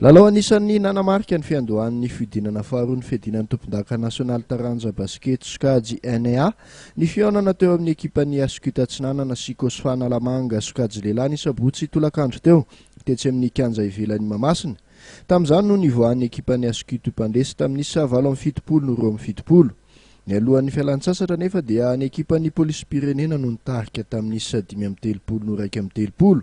Lalao anisan'ny nanamarika ny fiandohan'ny fihodinana faharoa ny fiadinan'ny tompondaka nasionaly taranja basikety sokajy NEA ny fihaonana teo amin'ny ekipan'ny Ascute Atsinanana sy Cosfa Analamanga sokajy lehilahy ny sabotsy tolakandro teo tetsy amin'ny kianja ivelan'i Mahamasina Tamin'izany no nivoahan'ny ekipan'ny Askutu mpandresy tamin'ny isa valo amby fitopolo no roa amby fitopolo. Nialohan'ny fialan-tsasatra anefa dia ny ekipan'ny polisim-pirenena no nitarika tamin'ny isa dimy amby telopolo no iraika amby telopolo.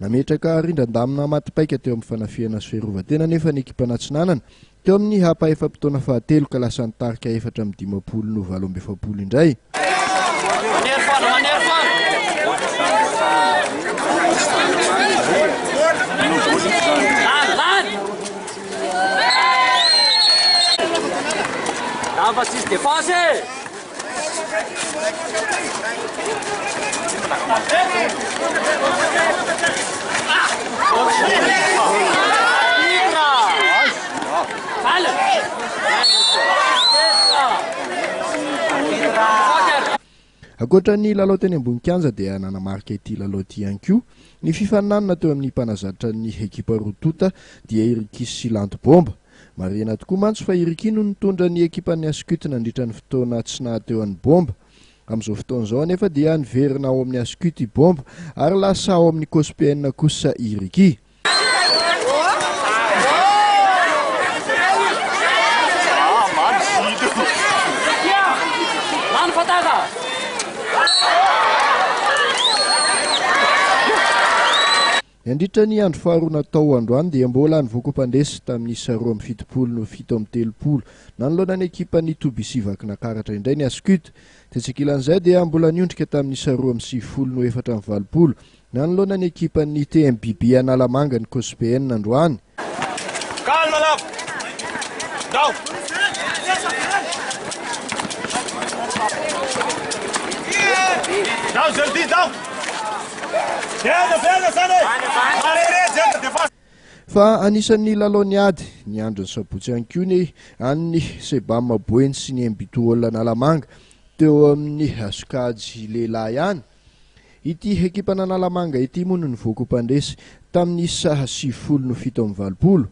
Nametraka rindran-damina matipaika teo amin'ny fanafihana sy fiarovan-tena anefa ny ekipana atsinanana, teo amin'ny hapa efa-potoana fahatelo ka lasa nitarika efatra amby dimampolo no valo amby efapolo indray. Ankoatra ny lalao teny ambony kianja dia nanamarika ity lalao ity ihany koa ny fifaninanana teo amin'ny mpanazatra ny ekipa roa tonta dia i Rikis sy Lanto Bomba. Marihina tokoa mantsy fa i Ricky no nitondra ny ekipan'ny Ascut nandritra ny fotoana tsy nahateo an'i Bomba. Amin'izao fotoana izao anefa dia niverina ao amin'ny Ascut i Bomba ary lasa ao amin'ny Cospn kosa i Ricky. Nandritra ny andro faharoa natao androany dia mbola ny voakompandresy tamin'ny isa roa amby fitopolo no fito amby telopolo. Nanoloana ny ekipan'ny toby isia Vakinakaratra indray ny Ascut. Tetsy ankilan'izay dia mbola niondrika tamin'ny isa roa amby sivifolo no efatra amby valopolo nanoloana ny ekipan'ny TMBB Analamanga ny Cospn androany. Calme là Ndao Ndao je le dis ndao Viens viens zany Marere zany defa Fa anisan'ny lalaon'ny ady ny andron'ny sabotsy ihany koa ny an'ny Sebam Boeny sy ny Mbtool Analamanga teo amin'ny sokajy lehilahy ihany Ity ekipan'Analamanga ity moa no nivoaka ho mpandresy tamin'ny saha sivifolo no fito amby valopolo.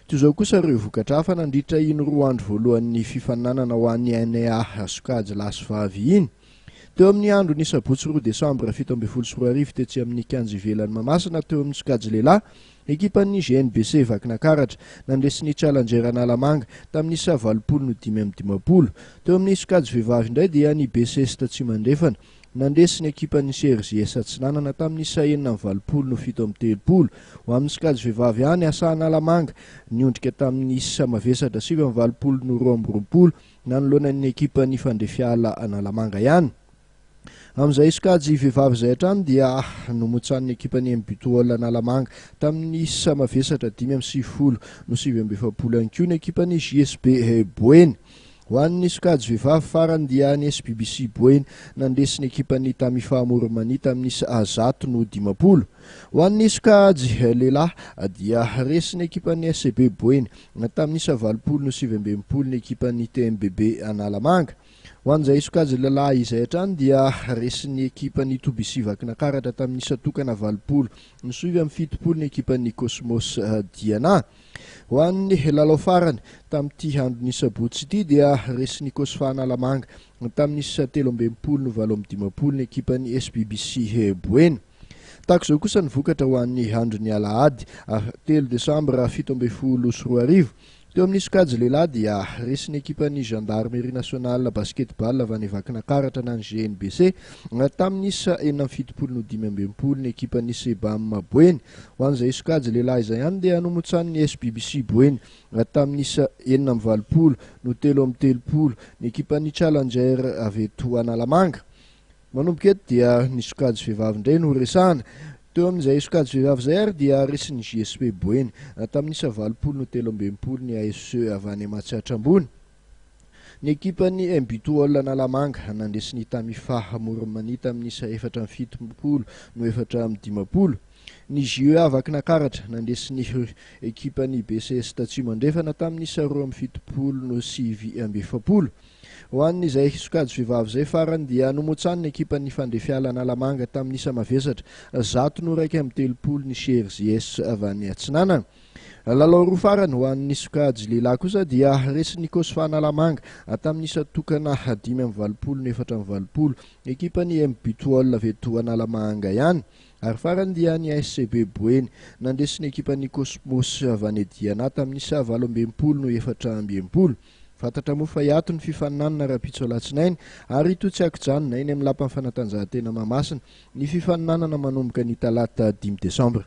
Toy izao kosa ireo vokatra hafa nandritra iny roa andro voalohan'ny fifaninanana ho an'ny NEA sokajy lahy sy vavy iny. Teo amin'ny andron'ny sabotsy roa desambra fito ambin'ny folo sy roa arivo tetsy amin'ny kianja ivelan'i Mahamasina teo amin'ny sokajy lehilahy, ekipan'ny GNBC Vakinakaratra nandresy ny Challenger Analamanga tamin'ny saha valopolo no dimy amby dimampolo. Teo amin'ny sokajy vehivavy indray dia ny BCEST Tsimandrefana. Nandresy ny ekipan'ny Cersei Esa-Atsinanana tamin'ny isa enina amby valopolo no fito amby telopolo. Ho amin'ny sokajy vehivavy ihany, Asa Analamanga niondrika tamin'ny isa mavesatra sivy amby valopolo no roa amby roapolo nanoloana ny ekipan'ny Fandrifiala Analamanga ihany. Amin'izay sokajy vehivavy izay hatrany dia nomotsanin'ny ekipan'ny MBTOL Analamanga tamin'ny isa mavesatra dimy amby sivifolo no sivy amby efapolo ihany koa ny ekipan'ny JSB Boeny. Ho an'ny sokajy vehivavy farany dia ny SBBC Boeny nandresy ny ekipan'ny Tamifa Amour Mania tamin'isa zato noho dimampolo. Ho an'ny sokajy lehilahy dia resy ny ekipan'ny SCB Boeny tamin'isa valopolo noho sivy amby enimpolo ny ekipan'ny TMBB Analamanga. Ho an'izay sokajy lehilahy izay hatrany dia resy ny ekipan'ny Tobisi Vakinakaratra tamin'isa tokana valopolo noho sivy amby fitopolo ny ekipan'ny Cosmos Diana. Ho an'ny lalao farany, tamin'ity andron'ny sabotsy ity dia resin'ny Cosfa Analamanga, tamin'ny isa telo amby enimpolo no valo amby dimampolo ny ekipan'ny SBBC Boeny. Tahaka izao kosa ny vokatra ho an'ny andron'ny alahady ah telo desambra fito ambin'ny folo sy roa arivo. Teo amin'ny sokajy lehilahy dia resin'ny ekipan'ny Gendarmerie Nationale Basketball avy any Vakinakaratra na ny GNBC, tamin'ny isa enina amby fitopolo no dimy amby enimpolo ny ekipan'ny Sebam Boeny. Ho an'izay sokajy lehilahy izay any dia nomontsanin'ny SBBC Boeny raha tamin'ny isa enina amby valopolo no telo amby telopolo ny ekipan'ny Challenger avy eto Analamanga. Manomboka eto dia ny sokajy vehivavy indray no horesahana. Teo amin'izay sokajy vehivavy izay ary dia resin'ny JSP Boeny raha tamin'ny isa valopolo no telo amby enimpolo ny ASE avy any Matsiatra Ambony. Ny ekipan'ny MBTOL Analamanga nandresy ny Tamifa Amoron'i Mania tamin'ny isa efatra amby fitompolo no efatra amby dimampolo. Ny JEA Vakinankaratra nandresy ny ekipan'ny BCS Tatsimo Andrefana tamin'ny isa roa amby fitopolo no sivy amby efapolo. Ho an'izay sokajy vehivavy izay farany dia nomotsanin'ny ekipan'ny Fandrefiala Analamanga tamin'ny isa mavesatra, zato no iraika amby telopolo ny Cheers Yes avy any Atsinanana. Lalao roa farany ho an'ny sokajy lehilahy kosa dia resin'ny Cosfa Analamanga tamin'ny isa tokana dimy amby valopolo no efatra amby valopolo ekipan'ny MBTOL avy eto Analamahanga ihany ary farany dia ny SCB Boeny nandresy ny ekipan'ny Cosmos Vanediana tamin'ny isa valo amby enimpolo no efatra amby enimpolo. Fantatra moa fa hiato ny fifaninanana rahampitso alatsinainy ary hitohy tsy ankijanona eny amin'ny lapan'ny fanatanjahantena Mahamasina ny fifaninanana manomboka ny talata dimy desambra.